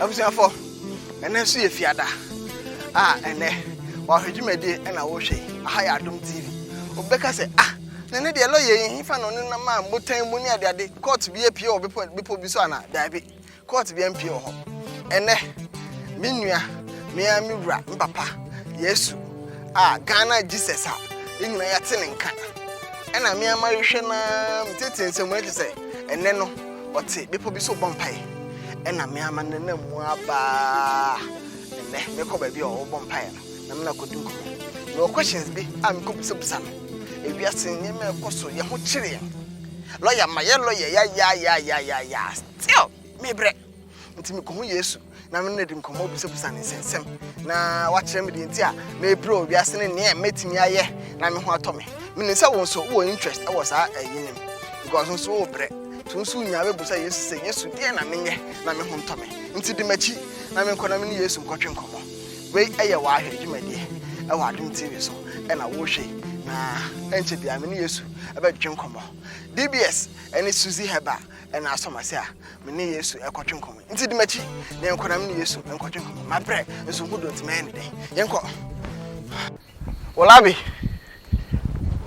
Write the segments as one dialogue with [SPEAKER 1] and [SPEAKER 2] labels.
[SPEAKER 1] Abusuafo, ɛnɛ nso yɛ fiada a ɛnɛ wɔahwɛ dwumadie ɛna wohwɛ yi. Aha yɛ Adom TV. Wobɛka sɛ, ah, na ɛnɛ deɛ lɔya yi hefa na ɔne nam a mbotan mu ne adeade kɔɔto bi apue wɔ bepɔ bepɔ bi so anaa? Daabi, kɔɔto bi ampue wɔ hɔ. Ɛnɛ, me nua, me ara me wura, me papa, Yesu a Ghana Jesus a yɛn nyinaa yɛate ne nka ɛna me ara mahwehwɛ no ara metetee nsɛm mu no kyerɛ sɛ ɛnɛ no Ɔte bepɔ bi so bɔ mpaeɛ. Ɛna me ara ma nenam mu ara baa nnɛ mekɔ baabi a ɔwɔ bɔ mpaeɛ no na mena kɔdi nkɔmmɔ. Mewɔ questions bi a mekɔ busabisa no. Ewiase nneɛma a ɛkɔ so yɛ ho kyere yɛn. Lɔya mayɛ lɔya yayaayaayaayaa still mebrɛ. Nti mekɔhu Yesu na me no adi nkɔmmɔ bisabisa ne nsɛnsɛm na wakyerɛ me deɛ nti a mepere wɔ wiase ne neɛ mɛtumi ayɛ na me ho atɔ me. Menim sɛ wo nso wowɔ interest wɔ saa ayi no mu because wo nso wobrɛ nti wo nso wonya bɛbusa Yesu sɛ Yesu deɛ na menyɛ na me ho ntɔ me. Nti di m'akyi na menkɔ na me ne Yesu nkɔtwe nkɔmmɔ. Wei ɛyɛ wɔahwɛ dwumadie ɛwɔ Adom TV so ɛna wohwɛ na ɛnkyɛ biara me ne Yesu ɛbɛtwe nkɔmmɔ. DBS ɛne Suzy Herbal ɛna asɔ m'ase a me ne yesu ɛkɔtwe nkɔmmɔ nti di m'akyi na yɛnkɔ na me ne yesu nkɔtwe nkɔmmɔ mabrɛ nso ho do nti mɛyɛ ne dɛn yɛnkɔ wolabi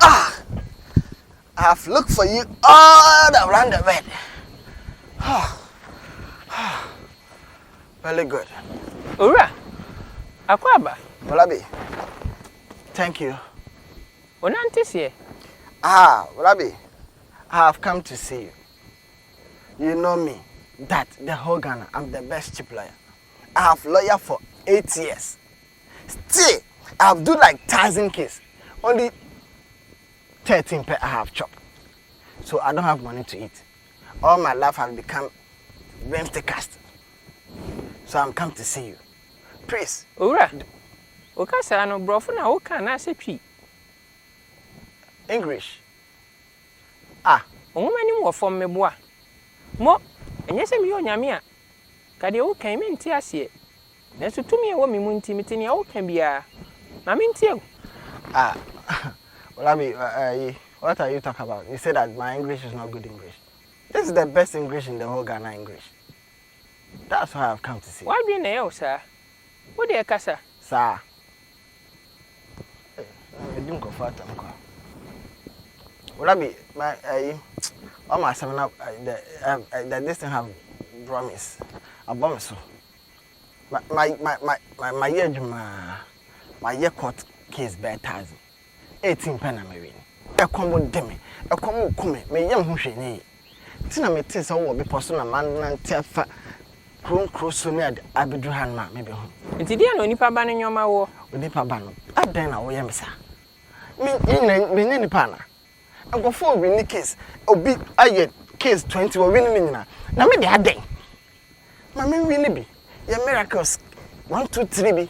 [SPEAKER 1] ah I have looked for you all around the world oh. Oh. very good owura
[SPEAKER 2] akɔ aba wolabi
[SPEAKER 1] thank you onante
[SPEAKER 2] seɛ ah
[SPEAKER 1] wolabi I have come to see you you know me that the whole Ghana I'm the best cheap lawyer I have lawyer for eight years still I have do like thousand case only thirteen pɛ I have chop so I don't have money to eat all my life has become brimstone cast so I'm come to see you please. Owura,
[SPEAKER 2] wo kasaa no brɔfo na wo ka anaasɛ twi?
[SPEAKER 1] English. Ah,
[SPEAKER 2] nwoma nim wɔ fam meboa. Mo, ɛnyɛ sɛ meyɛ onyame a, ka deɛ woka yi mente aseɛ. Nanso tumi a ɛwɔ me mu nti mete nea woka biara. Ma mentie o. Ah, Olabi,
[SPEAKER 1] ayi, what are you talk about? You say that my English is not good English. This is the best English in the whole Ghana English. That's why I've come to see you. W'adwene na ɛyɛ wo saa.
[SPEAKER 2] Wo deɛ kasa. Saa?
[SPEAKER 1] Mede nkurɔfoɔ atam kwa. Rabi, ma ayi, wama asɛm no the the this thing have brought me abɔ me so. Ma ma ma ma ma mayɛ adwuma, mayɛ court case bɛɛ thousand. Eti mpɛn na mewe ni. Ɛkɔm de me, ɛkɔm reku me, me yam ho hwee nyɛ yie. Nti na metee sɛ wowɔ bepɔ so na manante afa kuro nkuro so ne ade abɛduru hanom a mebɛhu wo. Nti deɛn na onipa ba
[SPEAKER 2] no nnoɔma woɔ? Onipa ba no,
[SPEAKER 1] adɛn na woyɛ me saa? Me, me nyɛ, menyɛ nipa anaa? Nkurɔfoɔ rewini case, obi ayɛ case twenty, wɔwini ne nyinaa. Na me deɛ adɛn? Ma menwini bi, yɛ miracles one, two, three bi.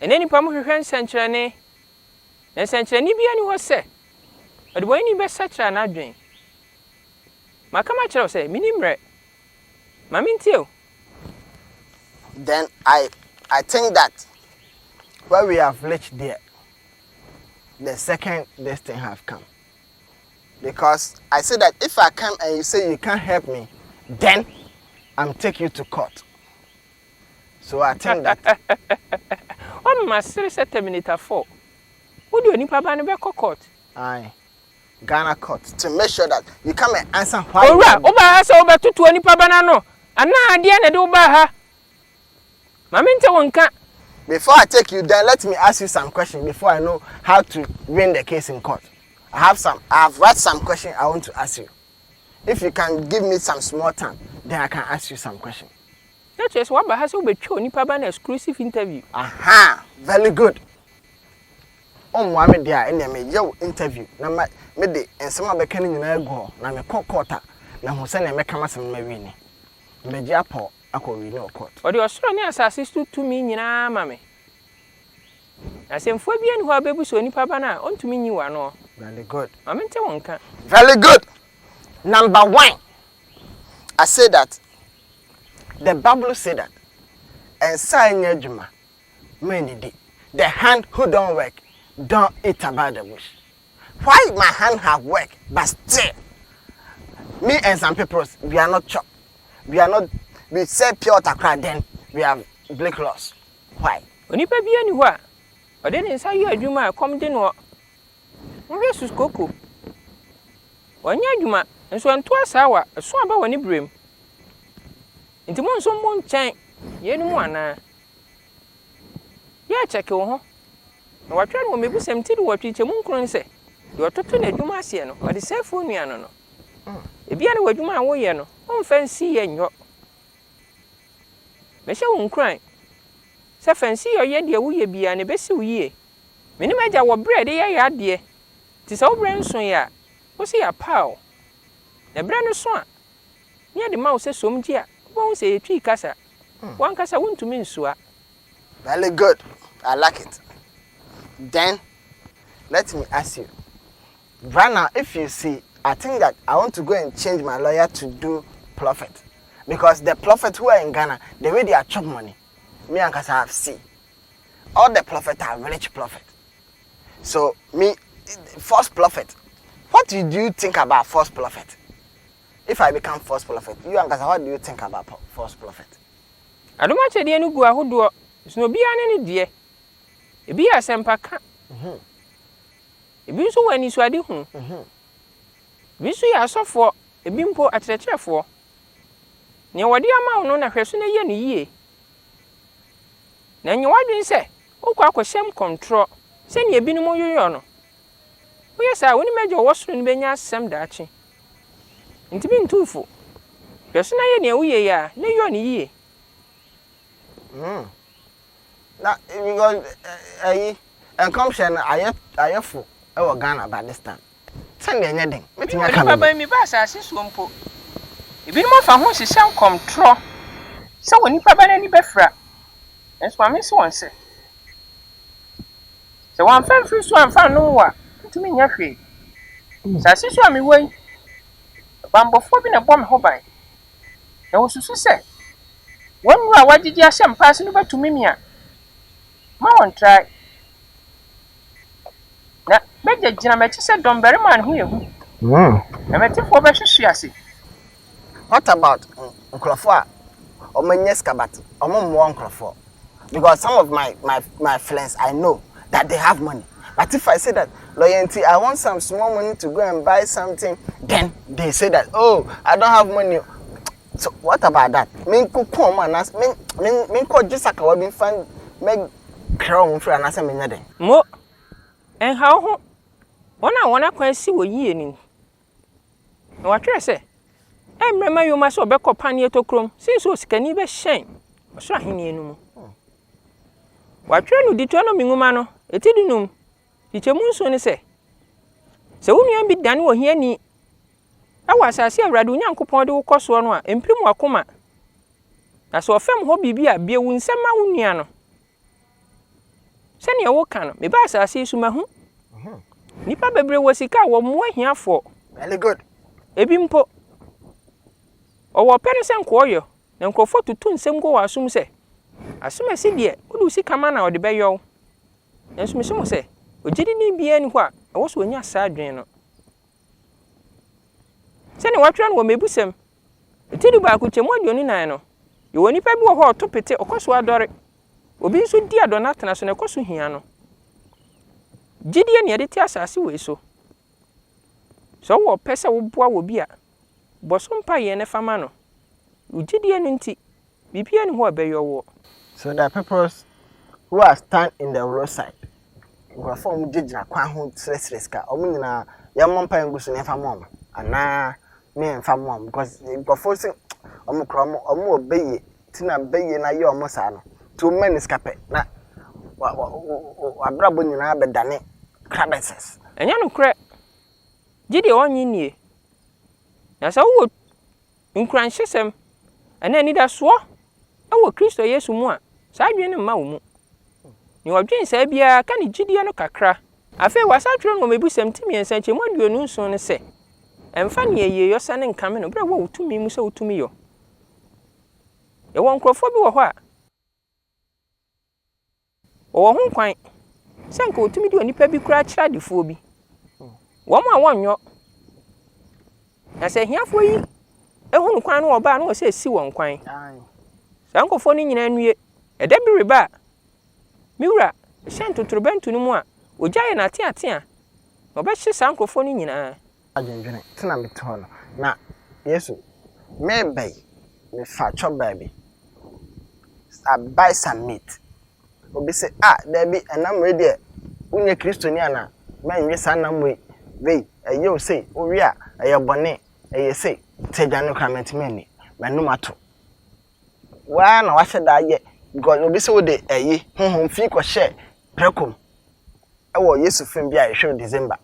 [SPEAKER 2] Ɛnnɛ nnipa mu hwehwɛ nsɛnkyerɛnne, na nsɛnkyerɛnne biara nni hɔ sɛ ɔdebɔneyɛni bɛsakyera n'adwene. Maka makyerɛ wo sɛ minni mmerɛ. Ma mintie wo.
[SPEAKER 1] Then I I think that where we have reached there the second this thing have come because I say that if I come and you say you can't help me then I'm take you to court. So attain that. Wa
[SPEAKER 2] me ma sere sɛ terminator four. Wo de onipa ba no bɛ kɔ court. Aye
[SPEAKER 1] Ghana court to make sure that you come and answer why you Owura, wo baa ha sɛ wo bɛ
[SPEAKER 2] toto onipa ba no ano anaa deɛ na ɛde wo baa ha? Ma me nte wo nka. Before I take
[SPEAKER 1] you then let me ask you some question before I know how to win the case in court. I have some, I have write some question I want to ask you. If you can give me some small time then I can ask you some question. Na kyerɛ sɛ waba
[SPEAKER 2] ha sɛ wobɛtwa onipa aba no exclusive interview. Ahaa
[SPEAKER 1] very good ɔmmoa me deɛ a ɛnneɛ me yɛ wo interview na ma me de nsɛm a bɛka no nyinaa agu hɔ na me kɔ court a ma hu sɛdeɛ mɛ ka m'asɛm no ma wini mɛ gye apɔw akɔ wini wɔ court. Ɔde ɔsoro ne asase
[SPEAKER 2] so tumi nyinaa ama me na asɛmfua biara nni hɔ a bɛ bu sɛ onipa aba no a ɔntumi nyi wɔ anoɔ. Very good. Ma me
[SPEAKER 1] nte wo nka.
[SPEAKER 2] Very good
[SPEAKER 1] number one I say that. The Bible say that nsa a ɛnyɛ adwuma ma ɛnnidi, the hand who don't work don't eat about the bush. Why my hand have work but still me and some peoples we are not chop, we are not we sell pure water koraa then we have bleak loss why? Onipa biara nni hɔ
[SPEAKER 2] a ɔde ne nsa yɛ adwuma a ɛkɔm de noɔ. Monhwɛ Suskoko. Wannya adwuma, nso ɛnto asaawa, ɛso aba wɔ ne berɛm. Nti mo nso mo nkyɛn yeinom anaa? Yɛakyɛke wo ho, na wɔatwerɛ no wɔ mmebusɛm ti duwɔtwe nkyɛmu nkron no sɛ, Deɛ ɔtoto n'adwuma aseɛ no, ɔde sɛefoɔ nua no no. Ebia na w'adwuma a woreyɛ no, womfa nsiyɛ nyɔ. Mɛhyɛ wo nkuran sɛ fa nsiyɔ yɛ deɛ woyɛ biara na ɛbɛsi wo yie, Mene m'agya wɔ berɛ a yɛde yɛ yadeɛ, nti sɛ wo berɛ nsoeɛ a, wo se yɛapaw wo. Na berɛ no so a, ne yɛde ma wo sɛ som gye a, wobɛhu sɛ yɛtwii kasa, w'ankasa wontumi nsua. Very
[SPEAKER 1] good, I like it. Then let me ask you, right now if you see, I think that I want to go and change my lawyer to do prophet because the prophet who are in Ghana, the way they are chop money, me ankasa I have see. all the prophet are village prophet so me false prophet what do you think about false prophet if I become false prophet you ankasa what do you think about false prophet. Adom
[SPEAKER 2] akyɛdeɛ no gu ahodoɔ so na obiara ne ne deɛ. Ebi yɛ asɛmpa ka. Mhm. Ebi nso wɔ anisoade hu. Mhm. Ebi nso yɛ asɔfoɔ, ebi mpo akyerɛkyerɛfoɔ. Nea wɔde ama wo no na hwɛ so na yɛ no yie. Na nyɛ w'adwene sɛ wokɔ akɔhyɛ mu kɔntorɔ sɛnea ebinom yeyɔ no. Woyɛ saa a, wo ne m'Agya a ɔwɔ soro no benya asɛm daakye. Enti mintu wo fo. Hwɛ so na yɛ nea woyɛ yi ara, na yɔ no yiye. Hmm.
[SPEAKER 1] Na because ɛyi, nkɔmhyɛ no ayɛ ayɛ fo wɔ Ghana, but this time. Sɛnea ɛnyɛ den, mɛtumi aka biribi. Onipa ba, meba asase soɔ
[SPEAKER 2] mpo. Ebinom afa ho rehyehyɛ nkɔmtorɔ sɛ onipa ba no ani bɛfira, nanso ma mense wɔn sɛ, Sɛ wɔamfa amfiri so amfa annom wo a, wontumi nyɛ hwee. Asase so a mewɔ yi, bammɔfoɔ bi na ɛbɔ me ho ban, na wɔsusu sɛ wɔn nnuro a wɔagyegye ahyɛ mpaase no bɛtumi me a, mma wɔntrae. Na mɛgyinagyina m'akyi sɛ dɔmmarima a ne ho yɛ hu, na m'atifoɔ bɛhwehwe ase. What
[SPEAKER 1] about nkurɔfoɔ a wɔnyɛ sika but wɔmmoa nkurɔfoɔ because some of my my my friends I know that they have money but if I say that lɔya nti I want some small money to go and buy something then they say that oh I don't have money So what about that? Me nko kɔ ɔmo anaasɛ me me me nkɔ gye sakawa bi nfa mɛ kra ɔmo mfiri anaasɛ me nyɛ dɛn? Mo,
[SPEAKER 2] ɛnha wo ho, wɔn a wɔn akwan si wɔ yiye no ni. Na wɔatwerɛ sɛ, Ɛmmrɛ mma yoma sɛ ɔbɛkɔ paneɛ tokurom sen sɛ osikani bɛhyɛn ɔsoro ahennie no mu. Wɔatwerɛ no Deuteronomy nwoma no, eti dunum, Nkyekyɛ mu nson ne sɛ, sɛ wo nua bi dane ohiani wɔ asase a Awurade wo Nyankopɔn de wo kɔ soɔ no a, mpirim w'akoma, na sɛ ɔfɛm hɔ biribi a, bue wo nsam ma wo nua no. Sɛdeɛ woka no, mebaa asase yi so mahu nnipa bebree wɔ sika a wɔmmoa ahiafoɔ. Very good.
[SPEAKER 1] Ebi mpo,
[SPEAKER 2] ɔwɔ ɔpɛ no sɛ nkɔɔyɔ, na nkurɔfoɔ tutu nsɛm gu wɔ asom sɛ, Asomasi deɛ, wode wo sika ma na ɔde bɛyɔ wo. Nanso mise mo sɛ, ogyidini biara nni hɔ a ɛwɔ sɛ onya saa adwene no. Sɛnea wɔatwerɛ no wɔ Mmebusɛm, ti dubaako kyɛm mu aduonu nan no, yɛwɔ onipa bi wɔ hɔ a ɔto pete, ɔkɔ so ara dɔre. Obi nso di adɔna atena so na ɛkɔ so hia no. Gyidie na yɛde te asase wei so. Sɛ wowɔ ɔpɛ sɛ woboa wɔ bi a, Bɔ so mpaeɛ na fa ma no. Wo gyidie no nti, biribiara nni hɔ a ɛbɛyɔ woɔ. So the peoples
[SPEAKER 1] who are stand in the road side, nkurɔfoɔ a wɔgyinagyina kwan ho srɛsrɛ sika, wɔn nyinaa yɛmmɔ mpaeɛ ngu so na yɛmfa mma wɔn anaa? Me yɛmfa mma wɔn because nkurɔfoɔ se wɔn kura wɔn, wɔn wɔ bɛyie ti na bɛyie no ayɛ wɔn saa no. Nti wɔn mma ni sika pɛ na wɔabrabɔ nyinaa bɛdane crabases. Ɛnyɛ nokorɛ.
[SPEAKER 2] gye deɛ ɔnnye nnie. Na sɛ wowɔ nkuranhyɛsɛm anaa anidasoɔ wɔ Kristo Yesu mu a, saa adwene no mma wo mu. Nea ɔdwen saa biara ka ne gyidie no kakra. Afei wɔasatwerɛ no wɔ m'abusɛm ti mmiɛnsa akyi mu aduonu nson no sɛ, Mfa nea ɛyɛ yɔ sane nkame no berɛ a wowɔ wo tumi mu sɛ wotumi yɔ. Yɛwɔ nkurɔfoɔ bi wɔ hɔ a. Wɔwɔ ho kwan sɛ anka wɔtumi de onipa bi koraa kyerɛ adefoɔ bi, wɔn a wɔnyɔ. Na sɛ ahiafoɔ yi hunu kwan no wɔba a, na wɔsɛ si wɔn kwan. Saa nkurɔfoɔ no nyinaa nnue. Ɛda bi reba a, me wura hyɛn totorobɛnto no mu a, ogya yɛ no ateatea, na ɔbɛhye saa nkurɔfoɔ no nyinaa. adwendwene, te na
[SPEAKER 1] mete hɔ no, na Yesu, mereba yi, mefa kyɔ baabi, I buy some meat. Obi se, ah, daabi, ɛnam wei deɛ, wonyɛ Kristoni anaa? Mɛnwe saa nam wei, wei, ɛyɛ o sei, wowe a, ɛyɛ bɔne, ɛyɛ sei, te aduane no koraa mentumi nni, m'anom ato. Waa na wahyɛ da ayɛ, because obi se wode ɛyi, honhom fi kɔhyɛ prɛko mu, ɛwɔ Yesu film bi a yɛhwɛ no December.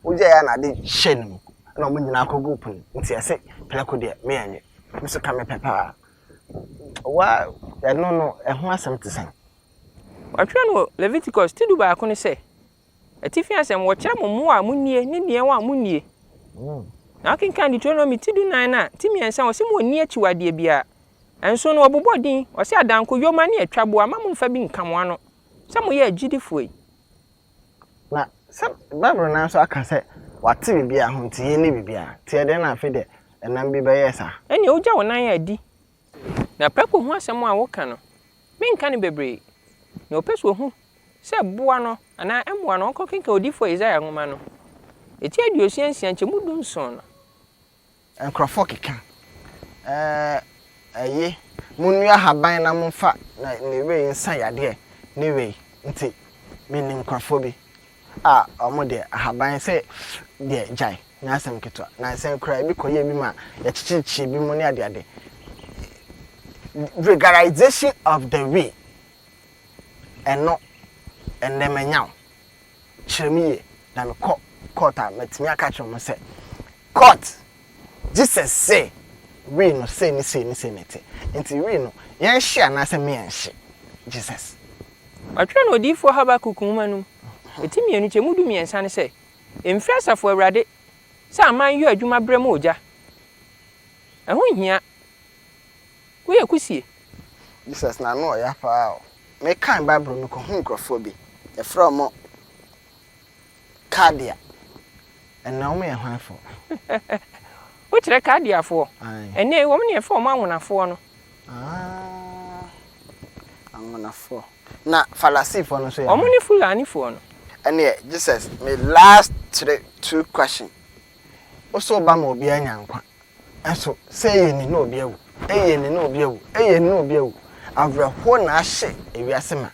[SPEAKER 1] wogyae a na ade hyɛ no mu na wɔn nyinaa kɔguu po no mu nti ɛse prɛko deɛ me ɛnyɛ me nso ka mepɛ paa wa ɛno no ɛho asɛm te sɛn? Wɔatwerɛ
[SPEAKER 2] no wɔ Leviticus ti du baako no sɛ, Atifi asɛm, wɔkyerɛ mo mmoa a monnie ne deɛn a monnie. Mm. Na wokenkan Deuteronomy ti du nan no a, ti mmiɛnsa a, ɔse monni akyiwadeɛ biara. Ɛnso no, wɔbobɔ din, ɔse adanko, yoma ne atwaboa, mma momfa bi nka mo ano sɛ moyɛ agyidifoɔ yi.
[SPEAKER 1] Na sɛ Bible no ara nso aka sɛ wɔate biribiara ho nti, yɛnni biribiara. Nti ɛdeɛn na afei deɛ ɛnam bi bɛyɛɛ saa? Ɛnneɛ wogya wo nan
[SPEAKER 2] adi. Na prako ho asɛm a woka no, menka no bebree. Nea ɔpɛ sɛ ɔhu sɛ boa no anaa mmoa no, ɔnkɔkenkan Odiyifoɔ Yesaia nwoma no, eti aduosia nsia nkyɛmu du nson no. Nkurɔfoɔ
[SPEAKER 1] keka, Ɛɛɛ ye, monnua haban na momfa na ne wei nsa yadeɛ ne wei. Nti menim nkurɔfoɔ bi a wɔn deɛ ahaban se deɛ gyae, nyɛ asɛm ketewa. Nansɛ koraa ebi kɔyɛɛ bi ma yɛkyekyekyekyee bi mu ne adeade. Regularization of the wei, ɛno, ɛnnɛ manya wo. kyerɛ me yie na me kɔ court a ma tumi aka akyerɛ ɔmo sɛ court Jesus se wii no sei ne sei ne sei ne te nti wii no yɛn hye anaa sɛ me yɛn nhye Jesus. Wɔatwerɛ
[SPEAKER 2] no odiyifoɔ Habakuk nwoma no mu eti mmienu kyɛ mu du mmiɛnsa no sɛ, Mfiri Asafo Awurade sɛ aman yɔ adwuma berɛ mu ogya. Ɛho nhia. Woyɛ kusie. Jesus na
[SPEAKER 1] ano ɔya paa o. Mekan Bible no kohun nkorɔfoɔ bi, yɛfrɛ wɔn Kaldea. Ɛnnɛ wɔn yɛ hwanfoɔ?
[SPEAKER 2] Wokyerɛ Kaldeafoɔ? Aane. Ɛnnɛ wɔn na yɛfrɛ wɔn anwonafoɔ no. Aah,
[SPEAKER 1] anwonafoɔ. Na Farasifoɔ no nso yɛ hwan? Wɔn ne Fulanifoɔ
[SPEAKER 2] no. Ɛnneɛ Jesus,
[SPEAKER 1] me last three, two question, Wose woba ma obiara nya nkwa, Nanso sɛ ɛyɛ ni na obi awu, ɛyɛ ni na obi awu, ɛyɛ ni na obi awu. Awerɛhoɔ na ahyɛ ewiase ma.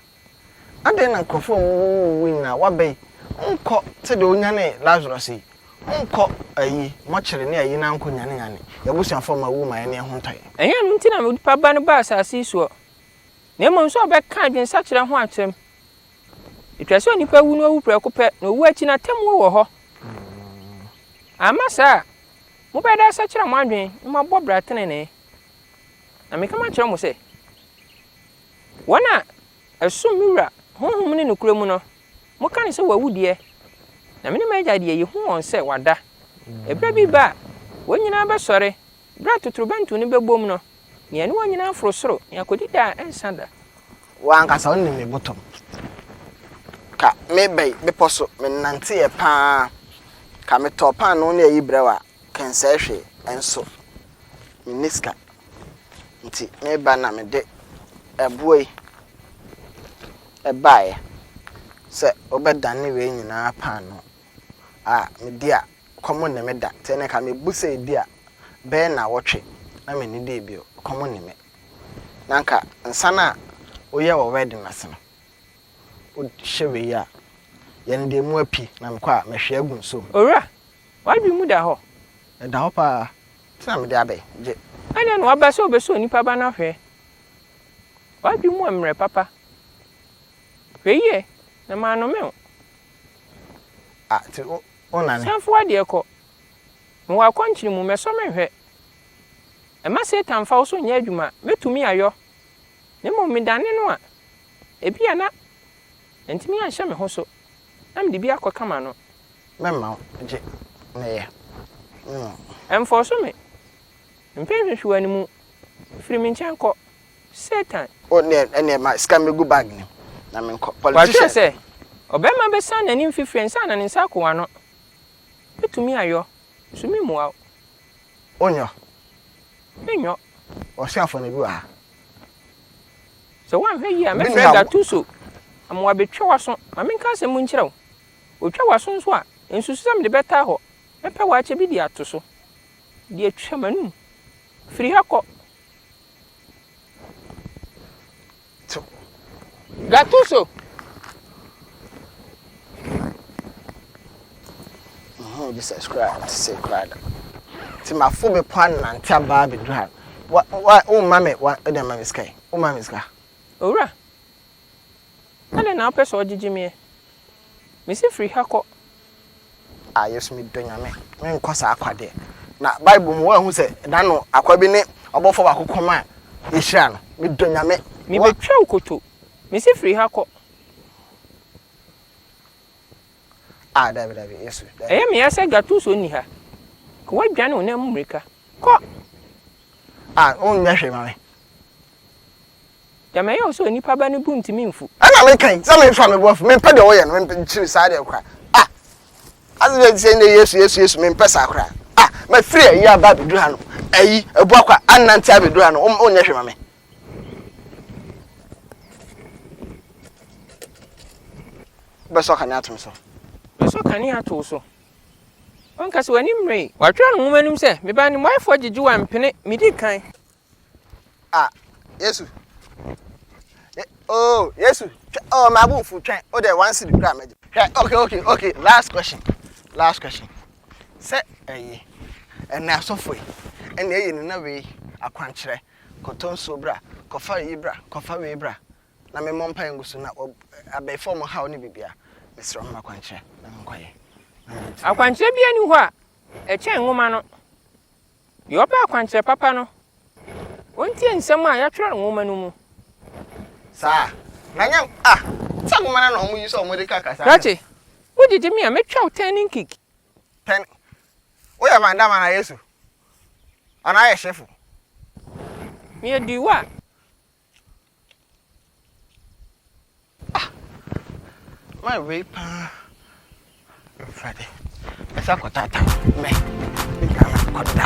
[SPEAKER 1] Adɛn na nkurɔfoɔ a wɔwuwuwuwui nyinaa, wɔaba yi, wonkɔ sɛdeɛ wonyanee Lazarus yi, wonkɔ ayi, mɔkyere ne ayi na wonkɔnyanenyane yɛabusuafoɔ ma awu ma yɛne yɛn ho ntɔ yɛn? Ɛnyɛ ɛno nti na onipa
[SPEAKER 2] Ba no baa asase yi soɔ, na mmom sɛ ɔbɛka adwensakyera ho asɛm. Ɛtwa sɛ onipa wu na ɔwu prɛko pɛ, na owuo akyi no atemmuo wɔ hɔ. Amma saa a, Mobɛyɛ dɛ asɛkyerɛ mo adwene na moabɔ bra tenenee. Na meka makyerɛ mo sɛ, wɔn a ɛsom me Wura Honhom ne nokorɛ mu no, moka no sɛ wɔawu deɛ, na me ne m'Agya deɛ yɛhu wɔn sɛ wɔada. Ɛberɛ bi reba a wɔn nyinaa bɛsɔre, berɛ a totorobɛnto no bɛbom no, na yɛne wɔn nyinaa aforo soro na yɛakɔdi daa a ɛrensa da. Wo ankasa
[SPEAKER 1] wonim me bottom. Ka me bɛe bepɔ so me nnanteɛ paa Ka me tɔɔ paanoo ne ayi brɛ wo a kɛnsɛɛ hwee Ɛnso me nni sika nti me ba na me de ɛboɔ yi baeɛ Sɛ wo bɛ dane wei nyinaa paanoo a me di a kɔm ne me da Tɛnɛ ka me bu sɛ ebi a bɛyɛ nnawɔtwe na me nnidie bio kɔm ne me. na anka nsa no a woyɛ wɔ wedding ase no, wohyɛ wei a, yɛn deɛ mu api na mekɔ a, mɛhwie agu nsuom. Owura, w'adwene
[SPEAKER 2] mu da hɔ? Ɛda hɔ pa ara,
[SPEAKER 1] nti na mede abɛ gye. Adɛn na woaba sɛ
[SPEAKER 2] wobɛsɔ onipa ba no ahwɛ? W'adwene mu mmrɛ papa. Hwɛ yie na mannome wo. Ah, nti
[SPEAKER 1] wo, wonane? San fa w'adeɛ kɔ.
[SPEAKER 2] Mewɔ akɔnkyene mu, mɛsɔ menhwɛ. Mma Satan mfa wo so nyɛ adwuma. Mɛtumi ayɔ, na mmom medane no a, ebia na mantumi anhyɛ me ho so na mede bi akɔka m'ano. Mɛma wo,
[SPEAKER 1] gye meyɛ me mu.
[SPEAKER 2] Ɛmfɔɔso me, mpɛ nhwehwɛwani mu. Firi me nkyɛn kɔ, Satan. O, neɛ, ɛneɛ
[SPEAKER 1] ma sika mmɛgu bag no mu na menkɔ, politician. Wɔatwerɛ sɛ,
[SPEAKER 2] Ɔbarima bɛsan n'anim fifire ansa na ne nsa ako w'ano. Mɛtumi ayɔ, nso meremmua wo. Onyɔ. Menyɔ. Ɔsoafoɔ
[SPEAKER 1] no, bi wɔ ha.
[SPEAKER 2] Sɛ woanhwɛ yie a, mɛfrɛ Gattuso ama wabɛtwa w'aso. Ma menka asɛm mu nkyerɛ wo. Ɔtwa w'aso nso a, nsusu sɛ mede bɛtaa hɔ. Mɛpɛ w'akyɛ bi de ato so, de atwa m'anom. Firi ha kɔ.
[SPEAKER 1] To.
[SPEAKER 2] Gattuso.
[SPEAKER 1] Muhu Jesus koraa a, ɔte sei koraa da. Nti mafo bepɔ anante aba abɛduru ha. Wa, wa, womma me, wa, wode ama me sika yi. Womma me sika. Owura,
[SPEAKER 2] adɛn na wopɛ sɛ ɔgyegye me ɛ? Mese firi ha kɔ.
[SPEAKER 1] Ah Yesu me dɔ Nyame me nkɔ saa kwa deɛ na Bible mu wɔahu sɛ da no akwa bi ne ɔbɔfoɔ baako kɔm a yɛhyira no me dɔ Nyame. Me bɛ twa nkoto
[SPEAKER 2] me se firi ha kɔ.
[SPEAKER 1] Ah dabi dabi Yesu dabi. Ɛyɛ me ya sɛ
[SPEAKER 2] Gatuso nni ha ka wadwane wo nan mu mmirika kɔ.
[SPEAKER 1] Ah wonyɛ hwee ma me.
[SPEAKER 2] Deɛ mɛyɛ wo sɛ onipa ba no bo ntumi mfu. Ɛna meka yi sɛ memfa
[SPEAKER 1] me bo afu mempɛ deɛ woyɛ no nkyiri saa deɛ koraa ah ase deɛ sɛ nnɛ yesu yesu yesu mempɛ saa koraa ah mafiri ayi aba abɛduru ha no ayi ɛbu akwa anante abɛduru ha no wonyɛ hwee ma me bɛsɔ kane atom so bɛsɔ kane
[SPEAKER 2] ato so ɔnka sɛ w'anim mmere watwerɛ no nwoma no mu sɛ meba ne mmoaeɛfoɔ gyegye wa mpene medi kan
[SPEAKER 1] ah yesu ye oh yesu twɛ oh maa bo nfu twɛn o deɛ one city kura mɛgye hwɛ okay okay okay last question last question sɛ ɛyi ɛnna asɔfo yi ɛnna ɛyɛ nina wei akwankyerɛ kɔtɔ nsuo bra kɔfa yi bra kɔfa wei bra na memmɔ mpa ngu so na abɛɛfo ɔmo haw ne bibia mesrɛ ɔmo akwankyerɛ na menkɔyɛ akwankyerɛ
[SPEAKER 2] bia ni hɔ a ɛkyɛn nwoma no Deɛ ɔpɛ akwankyerɛ papa no, ɔntie nsɛm a yɛatwerɛ nwoma no mu. Saa,
[SPEAKER 1] na nyɛ ah, sɛ nwoma no na wɔyi sɛ wɔde ka kasa no. Krakye, wogyegye
[SPEAKER 2] me a, mɛtwa wo turning kick. Turn,
[SPEAKER 1] woyɛ Van Damme anaa Yesu? Anaa yɛ hyefo?
[SPEAKER 2] Meyɛ Duwa.
[SPEAKER 1] Ah! Why wei paa? Mfrade. Mesa kɔtata. Mɛ. Me Ghana kɔda.